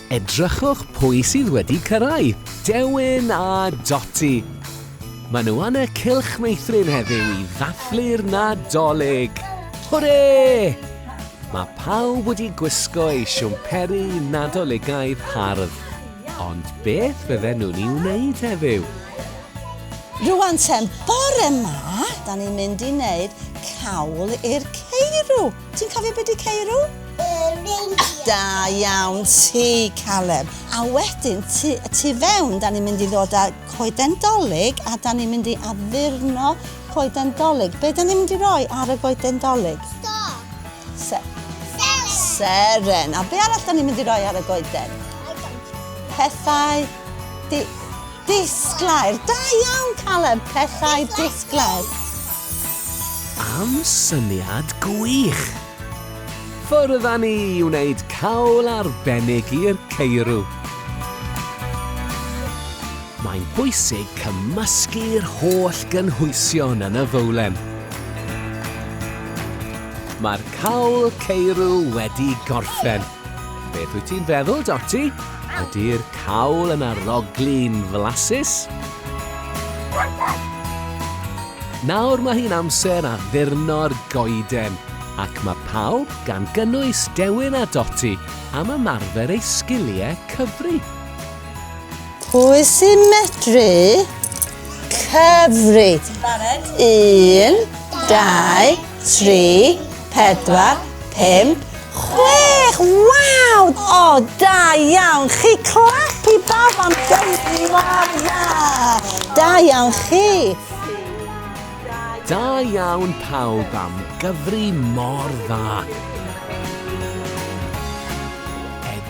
Edrychwch pwy sydd wedi cyrraedd, Dewin a Doti. Mae nhw yn y cylch meithrin heddiw i ddathlu'r Nadolig. Hwre! Mae pawb wedi gwisgo ei siwmperi Nadoligaidd hardd. Ond beth fydden nhw'n ei wneud heddiw? Rwan ten, bore ma, da ni'n mynd i neud cawl i'r ceirw. Ti'n cofio be di ceirw? Reindeer. Da iawn ti, Caleb. A wedyn, tu, tu fewn, da ni'n mynd i ddod â coeden dolyg a da ni'n mynd i addurno coeden dolyg. Be da ni'n mynd i roi ar y goeden dolyg? Star. Se Seren. Seren. A be arall da ni'n mynd i roi ar y goeden? Pethau di Disglair! Da iawn, Caleb! Pethau disglair! Am syniad gwych! Ffwrdd â ni i wneud cawl arbennig i'r ceirw! Mae'n bwysig cymysgu'r holl gynhwysion yn y fowlen. Mae'r cawl ceirw wedi gorffen. Beth wyt ti'n feddwl, Dotty? Ydy'r cawl yn aroglu'n flasus? Nawr mae hi'n amser a ddurno'r goeden, ac mae pawb, gan gynnwys Dewin a Dotty, am ymarfer eu sgiliau cyfri. Pwy sy'n medru cyfri? Un, dau, tri, pedwar, pum, chwech! Waw! O, da iawn! Chi clap i bawb am gyfri mor dda! Da iawn chi! Da iawn pawb am gyfri mor dda!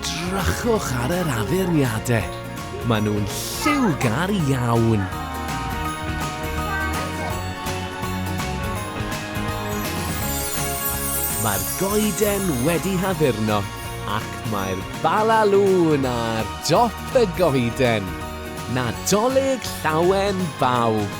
Drychwch ar yr addurniadau, maen nhw'n lliwgar iawn! Mae'r goeden wedi haddurno ac mae'r Bala Lŵn ar dop y goeden! Nadolig Llawen bawb!